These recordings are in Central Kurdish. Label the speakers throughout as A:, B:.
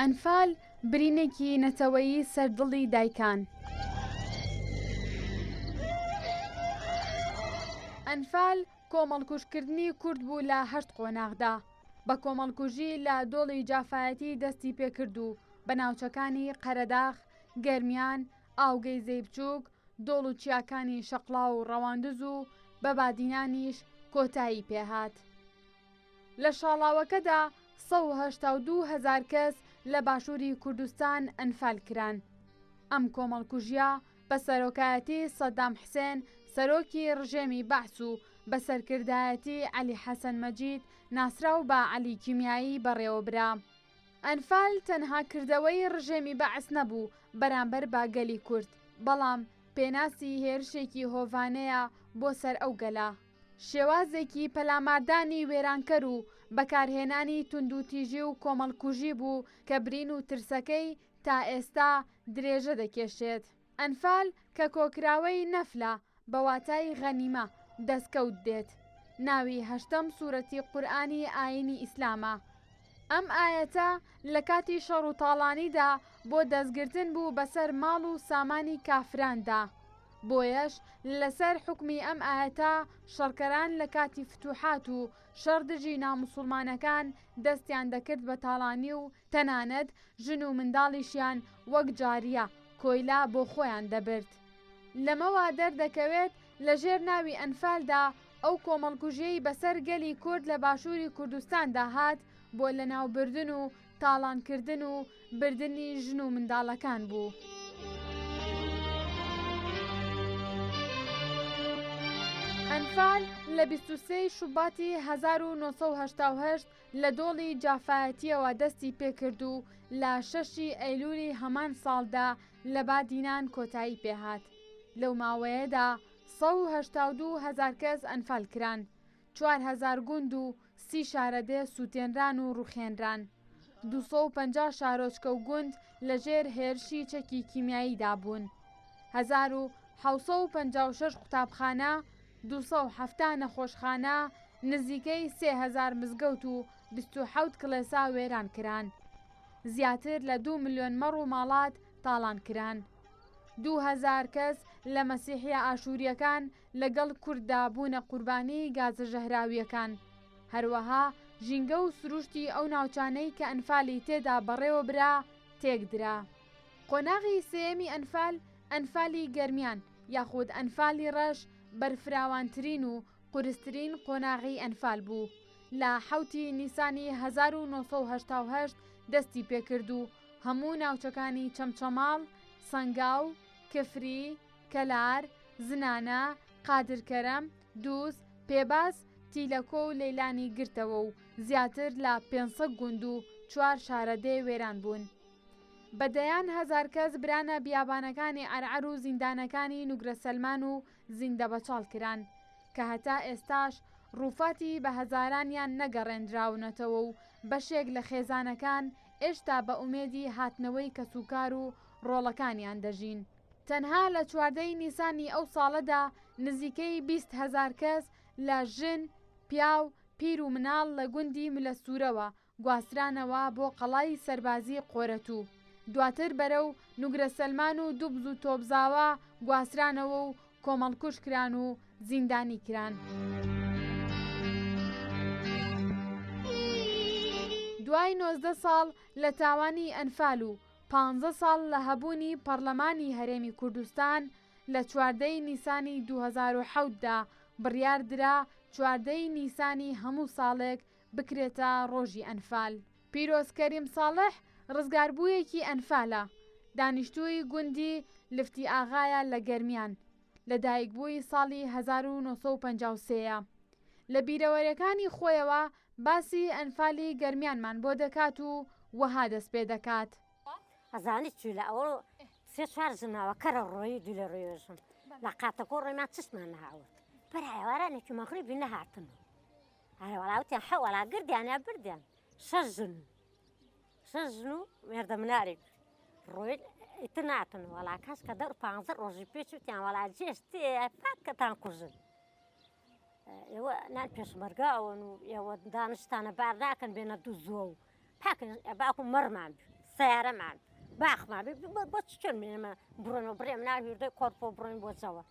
A: ئەنفال، برینێکی نەتەوەیی سەر دڵی دایکان. ئەنفال، کۆمەڵکوژکردنی کورد بوو لە هەشت قۆناغدا، بە کۆمەڵکوژی لە دۆڵی جافایەتی دەستی پێکرد و بە ناوچەکانی قەرەداخ، گەرمیان، ئاوگەیزەی بچووک، دۆڵ و چیاکانی شەقڵاو و ڕەواندز و بە بادینانیش کۆتایی پێهات. لە شاڵاوەکەدا سەد و هەشتا و دوو هەزار کەس لە باشووری کوردستان ئەنفال کران. ئەم کۆمەڵکوژیە بە سەرۆکایەتی سەدام حسێن سەرۆکی ڕژێمی بەعس و بە سەرکردایەتی عەلی حەسەن مەجید ناسراو بە عەلی کیمیایی بەڕێوەبرا. ئەنفال تەنها کردەوەی ڕژێمی بەعس نەبوو بەرامبەر بە گەلی کورد، بەڵام پێناسی هێرشێکی هۆڤانەیە بۆ سەر ئەو گەلە. شێوازێکی پەلاماردانی وێرانکەر و بەکارهێنانی توندوتیژی و کۆمەڵکوژی بوو کە برین و ترسەکەی تا ئێستا درێژە دەکێشێت. ئەنفال کە کۆکراوەی نەفلە بە واتای غەنیمە، دەستکەوت، دێت، ناوی هەشتەم سورەتی قورئانی ئایینی ئیسلامە، ئەم ئایەتە لە کاتی شەڕ و تاڵانیدا بۆ دەستگرتن بوو بەسەر ماڵ و سامانی کافراندا بۆیەش لەسەر حوکمی ئەم ئایەتە شەڕکەران لە کاتی فتوحات و شەڕ دژی ناموسوڵمانەکان دەستیان دەکرد بە تاڵانی و تەنانەت ژن و منداڵیشیان وەک جاریە، کۆیلە، بۆ خۆیان دەبرد لەمەوە دەردەکەوێت، لە ژێر ناوی ئەنفالدا ئەو کۆمەڵکوژیەی بەسەر گەلی کورد لە باشوری کوردستاندا هات بۆ لەناوبردن و تاڵانکردن و بردنی ژن و منداڵەکان بوو. ئەنفال لە بیست و سێی شوباتی هەزار و نۆ سەد و هەشتا و هەشت لە دۆڵی جافایەتیەوە دەستی پێکرد و لە شەشی ئەیلولی هەمان ساڵدا لە بادینان کۆتایی پێهات. لەو ماوەیەدا سەد و هەشتا و دوو هەزار کەس ئەنفال کران، چوار هەزار گوند و سی شارەدێ سووتێنران و ڕووخێنران، دوو سەد و پەنجا شارۆچکە و گوند لەژێر هێرشی چەکی کیمیاییدا بوون، هەزار و حەوت سەد و پەنجا و شەش قوتابخانە، دوو سەد و حەفتا نەخۆشخانە، نزیکەی سێ هەزار مزگەوت و بیست و حەوت کڵێسا وێران کران، زیاتر لە دوو ملیۆن مەڕ و ماڵات تاڵان کران. دوو هەزار کەس لە مەسیحییە ئاشوورییەکان لەگەڵ کورددا بوونە قوربانی گازە ژەهراوییەکان. هەروەها ژینگە و سروشتی ئەو ناوچانەی کە ئەنفالی تێدا بەڕێوە برا تێکدرا. قۆناغی سێیەمی ئەنفال، ئەنفالی گەرمیان یاخود ئەنفالی ڕەش بەرفراوانترین و قورسترین قۆناغی ئەنفال بوو، لە حەوتی نیسانی هەزار و نۆ سەد و هەشتا و هەشت دەستی پێکرد و هەموو ناوچەکانی چەمچەماڵ، سەنگاو، کفری، کەلار، زنانە، قادرکەرەم، دووز، پێباز، تیلەکۆ و لەیلانی گرتەوە و زیاتر لە پێنج سەد گوند و چوار شارەدێ وێران بوون. بە دەیان هەزار کەس برانە بیابانەکانی عەرعەر و زیندانەکانی نوگرەسەلمان و زیندەبەچاڵ کران کە هەتا ئێستاش ڕووفاتی بە هەزارانیان نەگەڕێندراونەتەوە و بەشێک لە خێزانەکان ئێشتا بە ئومێدی هاتنەوەی کەسوکار و ڕۆڵەکانیان دەژین. تەنها لە چواردە ی نیسانی ئەو ساڵەدا نزیکەی بیست هەزار کەس لە ژن، پیاو، پیر و مناڵ لە گوندی ملەسوورەوە گواسترانەوە بۆ قەڵای سەربازی قۆرەتوو، دواتر بەرەو نوگرەسەلمان و دوبز و تۆبزاوا گواسترانەوە و کۆمەڵکوژ کران و زیندانی کران. دوای نۆزدە ساڵ لە تاوانی ئەنفال و پانزە ساڵ لە هەبوونی پەڕلەمانی هەرێمی کوردستان، لە چواردە ی نیسانی دوو هەزار و حەوت دا بڕیار درا چواردە ی نیسانی هەموو ساڵێک بکرێتە ڕۆژی ئەنفال. پیرۆز کەریم ساڵح ڕزگاربوویەکی ئەنفالە، دانیشتووی گوندی لفتی ئاغایە لە گەرمیان، لەدایکبووی ساڵی هەزار و نۆ سەد و پەنجا و سێ ە، لە بیرەوەرێکانی خۆیەوە باسی ئەنفالی گەرمیانمان بۆ دەکات و وەها دەست پێ دەکات. ئەزانی
B: چی لە ئەوە سێ چوار جناوە کەرە ڕۆیی دوو لە ڕوێژم لە قاتەکۆ ڕۆیمان چشمان نەهاورد بەرایە وارانێکی مەغریبی نەهاتن و ئەرێ وەڵا وتیان حە وەڵا گردیانە بردیان شەش ژن شەش ژن و مێردە منارێک ڕۆین ئیتر ناتن وەڵا کەس کە دە پانزە ڕۆژی پێچ وتیان وەڵا جێش تێ پاکەتان کوژن ئێوە نان پێشمەرگا ئەوەن و ئێوە دانشتانە بار ناکەن بێنە دوو زۆ و پاکن باکو مەڕمان بێ سیارەمان باخمان بۆ چ چۆن بێنمە بڕۆنەوە بڕێم ناویردە کۆرپۆ بڕۆین بۆ جەوە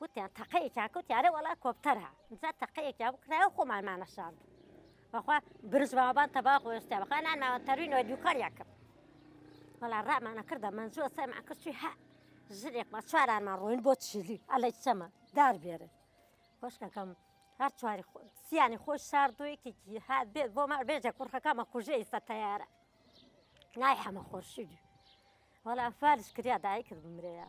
B: وتیان تەقەیەکیان کەوتی ئەرێ وەڵا کۆپتەرە جا تەقەیەکیان بکرایە و خۆمان مانەشاند بەخوا برز بابان تەبا خۆشتیا بەخوا نان ماوە تەروینەوە دووکاریان کرد وەڵا ڕامانە کردە منجوە سەرمان کرد چوی هە ژرێکمە چوارانمان ڕۆین بۆ چیلی ئەلە چەمە دار بێرە خۆشکەکەم هەر چواری سیانی خۆش شاردوەیەکێکی هات بێت بۆ مار بێژە کوڕخەکەمە کوژە ئیستا تەیارە نای حەمە خۆشی وەڵا فارش کریا دایکرد بمرەیە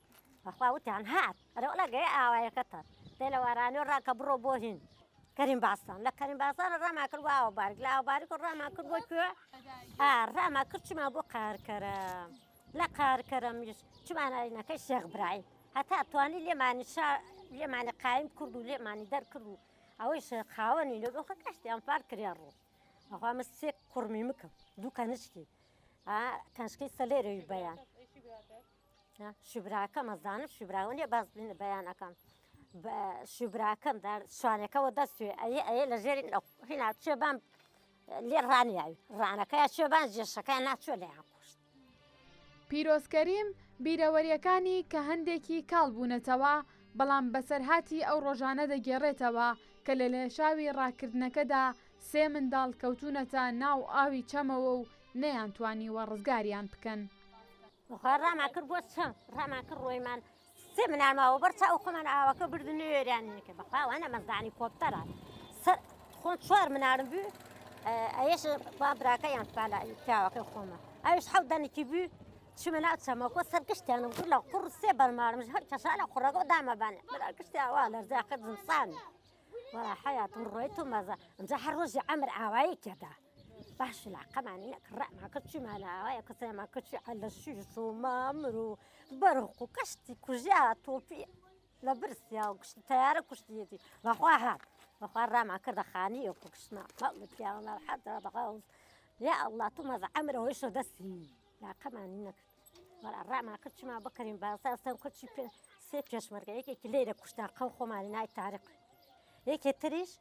B: بەخوا وتیان هات ئەرێ وەلا گەیە ئاوایەکەتە دێ لە وارانێ ڕا کە بڕۆ بۆ هین کەریم باسان لە کەریم باسان ڕاما کرد وە ئاوە بارک لە ئاوە بارک ڕاما کرد بۆ کوێ ئا ڕاما کرد چما بۆ قارکەرە لە قارکەرە میش چمانایینەکەی شێخ برایم هەتا توانی لێمانی شا لێمانی قایم کرد و لێمانی دەرکرد و ئەوەی شێخ خاوەنی لە دۆخە کەشتیان پار کرێ ڕوو ئەخوا من سێ کوڕمی مکم دوو کەنشکی ئا کەنشکی سەلێرەوی بەیان شوبراکەم ئەزانم شوبراوە نیە باز بینە بەیانەکەم بە شوبراکەم شوانەکەەوە دەستێ ئەە ئەە لە ژێری هینا چێ بام لێ ڕانیاوی ڕانەکەی چێ بان جێشەکەی ناچۆ لەیان کوشت
A: پیرۆزکەریم بیرەوەریەکانی کە هەندێکی کاڵ بوونەتەوە بەڵام بەسەرهاتی ئەو ڕۆژانە دەگێڕێتەوە کە لە لێشاوی ڕاکردنەکەدا سێ منداڵ کەوتونەتە ناو ئاوی چەمەوە و نەیان توانیوە ڕزگاریان بکەن. بخوا
B: ڕامان کرد بۆ چەند ڕامان کرد ڕۆیمان سێ منال ماوە بەر چاو خۆمان ئاوەکە بردن نوێرانەکە بەخواوانە مەزانی کۆپتەرە سەر خۆن چوار منارم بوو ئەش با براکە یان پالا پیاوەکە خۆمە ئەوش حەو دەنکی بوو چمە ناو چەمەکۆ سەر گشتیان و لە قڕ سێ بەرمارمش هەر کەسانە قڕەکە دامەبانێ برا گشتیاوا لەرزاکە زمسان وڵا حیاتم ڕۆیت و مەزە ئەمجا هەر ڕۆژی ئەمر ئاوایی کێدا باش لاقەمان نەک ڕەما کەچی مالاوایە کەسەما کەچی عەلە شیش و مامر و بەرق و کەشتی کوژیا تۆپی لە برسیا و گشتی تیارە کوشتیەتی بەخوا هات بەخوا ڕاما کردە خانی و کوشتنا پیاوە حەتا بەغاوز یا ئەڵڵا تو مەزە ئەمرەوەی شە دەستی لاقەمانی نەکرد وەرا ڕاما کەچما بکەین باسا سەم کەچی پێ سێ پێشمەرگە یەکێکی لێرە کوشتان قەو خۆمانی نای تارق یەکێ تریش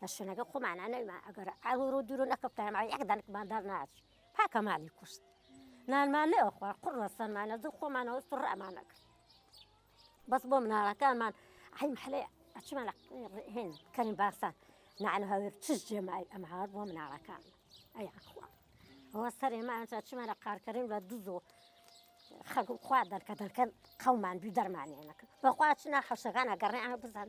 B: لە شوێنەکەی خۆمانا نەویمان ئەگەر ئاوی ڕوو دوورو نەکەفتایە ماوەی یەک دانکمان دار ناچی پاکە مالی کوشت نانمان نەوە خوارد قڕ لە سەرمانە دوو خۆمانەوە سڕەمانە کرد بەس بۆ مناڵەکانمان ئەی محلەیە ئەچمان هێن کەریم باسان نعن هەوێر چش جێمای ئەم هاوار بۆ مناڵەکان ئەی ئەخوا ئەوە سەرێمان چمان لە قارکەریم لە دوزۆ خەگو خوا دەرکە دەرکەن قەومان دوو دەرمانێنەکە بەخوا چنا حەشەکان ئەگەڕێ ئەمە بزان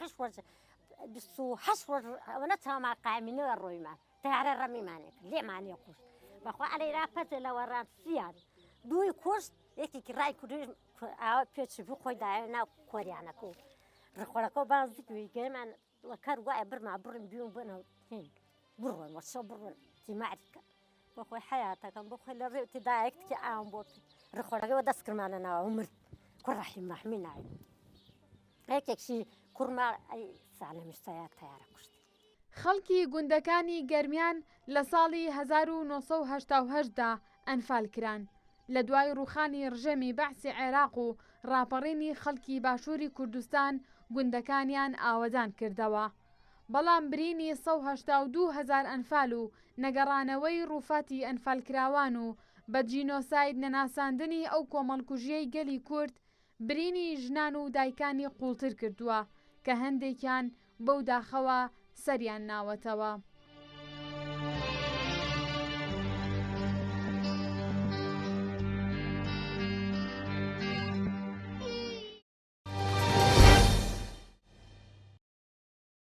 B: قش وەرز بیست و هەشت ڕۆژ ئەوەنە چاومان قایمینەوە ڕۆیمان تارە ڕەمیمانێک لێمانێ کوشت بەخوا ئەلێ را پەتێ لە وەڕان سیان دووی کوشت یەکێکی ڕای کوردی ئاوە پێچی بوو خۆی دایە ناو کۆریانەکە و ڕخۆرەکە و باز گوێی گەیمان وە کەر وایە برما بڕن بیون بنە هین بڕۆن وە شەو بڕۆن تی مەعریف کە بۆ خۆی حەیاتەکەم بۆ خۆی لە ڕێوتی دایەک تکی ئاوم بۆ ڕخۆرەکە وە دەست کرمانە ناوە مرد کوڕ ڕەحیم مەحمی ناوی یەکێکشی کوڕما ئەی سانە مشتەیە تەیارە کوشت خەڵکی
A: گوندەکانی گەرمیان لە ساڵی 1970 دا ئەنفال کران لە دوای ڕووخانی ڕژێمی بەعسی عێراق و ڕاپەڕینی خەڵکی باشووری کوردستان گوندەکانیان ئاوەدان کردەوە. بەڵام برینی سەد و هەشتا و دوو هەزار ئەنفال و نەگەڕانەوەی ڕووفاتی ئەنفالکراوان و بە جینۆساید نەناساندنی ئەو کۆمەڵکوژییەی گەلی کورد، برینی ژنان و دایکانی قوڵتر کردووە کە هەندێکیان بەو داخەوە سەریان ناوەتەوە.